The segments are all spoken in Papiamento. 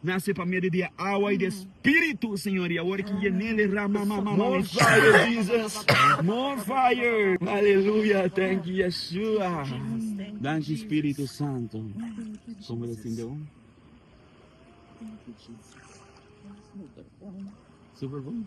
Nace pa medio di e awa y di e Spiritu, Señor, y awor ki ye nele ra ma ma ma more fire Jesus, more fire, aleluya, thank you Yeshua, danki Spiritu Santo, como lo tin de un, super bon, super bon.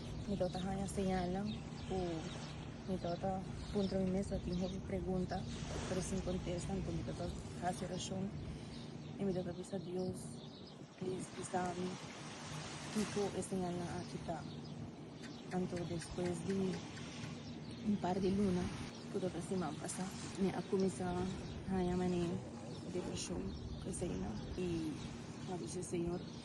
Mi lo ta haña señalnan ku mi lo ta puntra mi mes latin hopi pregunta, pero sin kontesta. Anto mi lo ta hasi orashon i mi lo ta bisa Dios, plis bisa mi kiko e señalnan aki ta. Anto despues di un par di luna, ku lo ta siman pasá, mi a kuminsá haña manera di orashon ku eseinan i a bisa, Señor.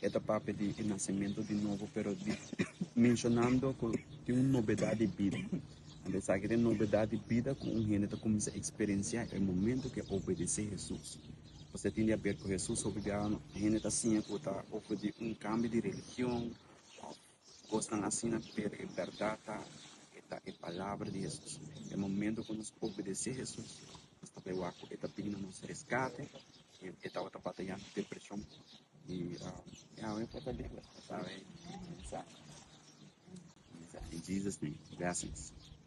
E ta papia di e nasementu di nobo pero menshonando ku tin un nobedat di bida. Ora esaki ta e nobedat di bida ku un hende ta kuminsá eksperensiá e momentu ku e obedesé Hesus. Kusé tin di haber ku Hesus? Hopi di hende ta siña ku ta ofrendí un kambio di religion. Kosnan asina ta pega e bèrdat ta e ta e palabra di Hesus. E momentu ku nos obedesé Hesus, nos ta bai wak ku e ta bini na nos reskate i e tabata batayá ku depreshon i e awe porta liber. Pasawe mensahe. In Jesus name. Blessings.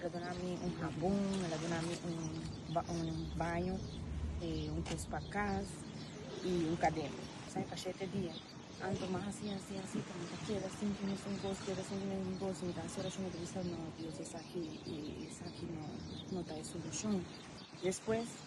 El a duna mi un habon, el a duna mi un baño, un cos pa cas y un cadena. Sa e pa shete dia. Anto mas asi, asi, asi ta mi ta keda sin cu mes un cos, keda sin cu mes un cos. Mi ta haci oracion, mi ta bisa, No, Dios esaki, esaki no ta e solucion. Despues.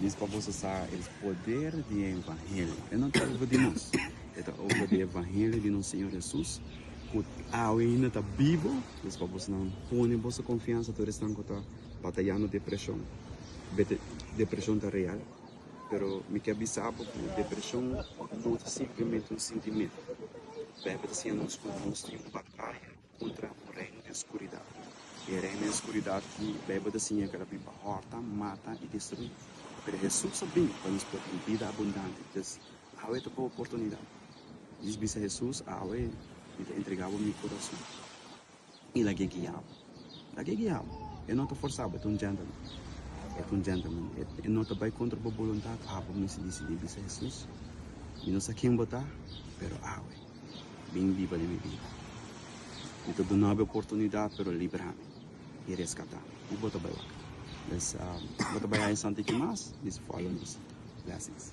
Mes pa boso sa el poder di e evangelio. E no ta over di nos. E ta over di e evangelio di nos Señor Jesus cu awe ainda ta bibo. Mes pa boso nan pone boso confiansa tur esnan cu ta batayando depresion. Bete depresion ta real pero mi ke bisa bo cu depresion no ta simplemente un sentimento. Bijbel ta siña nos cu nos tin un bataya. Kontra un reino den skuridat. E reino den skuridat ki Beibel ta siña ke ta bin pa hòrta, mata i destruí. Pero Hesus a bin pa nos porta un bida abundante. Entés, awe ta bo oportunidat. Djis bisa Hesus, Awe mi ta entregá bo mi kurason. I lag'é guia bo. Lag'é guia bo. E no ta forsá bo, e ta un gentleman. E ta un gentleman. E no ta bai kontra bo boluntat. Abo misti disidí, bisa Hesus, Mi no sa ken bo ta, pero awe. Bin biba den mi bida. Mi ta duna'u e oportunidat, pero librami i reskatámi. I bo ta bai wak. Bes bo ta bai haña santichi mas? Mester fòlo nos. Blessings.